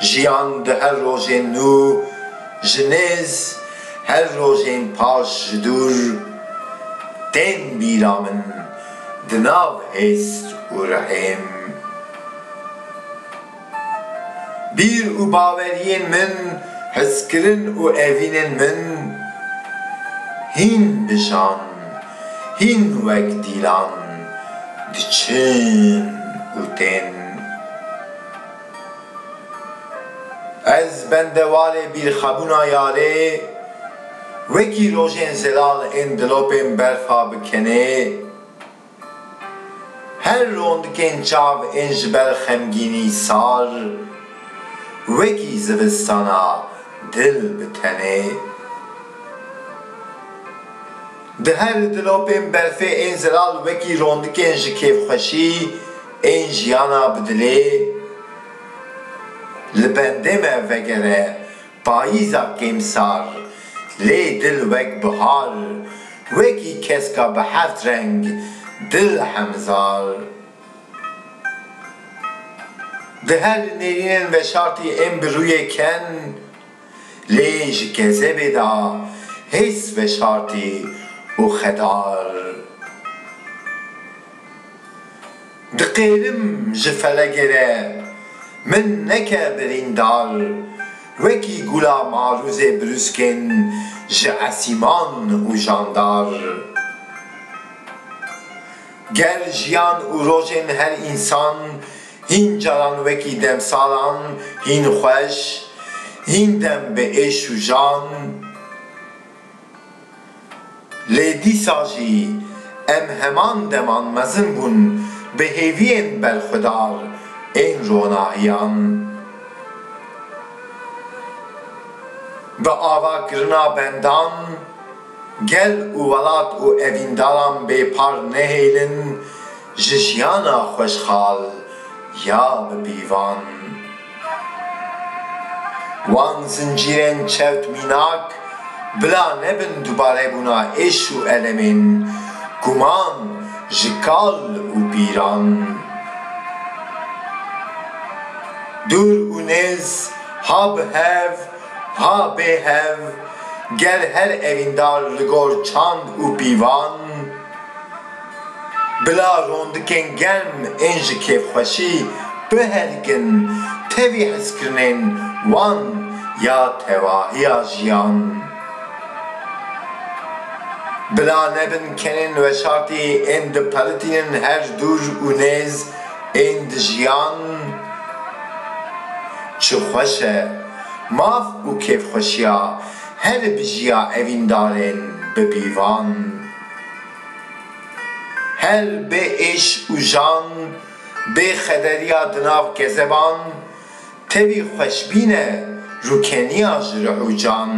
Jiyan di her rojên nû ji nêz, her rojên paş ji dûr, tên bîra min di nav hêst û rihêm. Bîr û baweriyên min, hizkirin û evînên min hîn bijan, hîn wek dîlan diçin û tên. Ez bendewalê bîrxebûna yarê wekî rojên zelal ên dilopên berfa bi kenê her rondikên çav ên ji ber xemgînî sar wekî zivistana dil bi tenê. Di her dilopên berfê ên zelal wekî rondikên ji kêfxweşî, Ên jiyana bi dilê li bendê me vegere Payîza kêmsar lê dil wek bihar Wekî keska bi heft reng dil hemzar Di her nêrînên veşartî ên bi rûyê ken Lê ji kezebê de hêz veşartî û xedar. Diqêrim ji felegê re min neke birîndar, wekî gula marûzê brûskên ji esîman û jandar. Gel, jiyan û rojên her însan hîn caran wekî demsalan hîn xweş, hîn dem bi êş û jan. Lê dîsa jî em heman deman mezin bûn bi hêviyên berxwedar ên ronahiyan. Bi ava kirina bendan. Gel û welat û evîndaran bê par nehêlin ji jiyana xweşxal ya bi pîvan. Wan zincîrên çewt mînak bila nebin dubarebûna êş û elemên guman ji kal û pîran. Dûr û nêz ha bi hev. Ha bê hev, ger her evîndar li gor çand û pîvan, bila rondikên germ ên ji kêfxweşî bihelikin tevî hizkirinên wan ya tevahiya jiyan. Bila nebin kenên weşartî ên diperitînin her dûr û nêz ên di jiyan. Çi xweş e. Maf û kêfxweşiya herî bijiya evîndarên bi pîvan. Her bê êş û jan, bê xederiya di nav kezeban, tevî xweşbîn e rûkeniya ji ruh û can.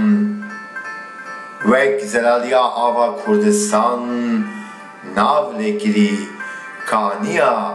Wek zelaliya ava Kurdistan, nav lêkirî kaniya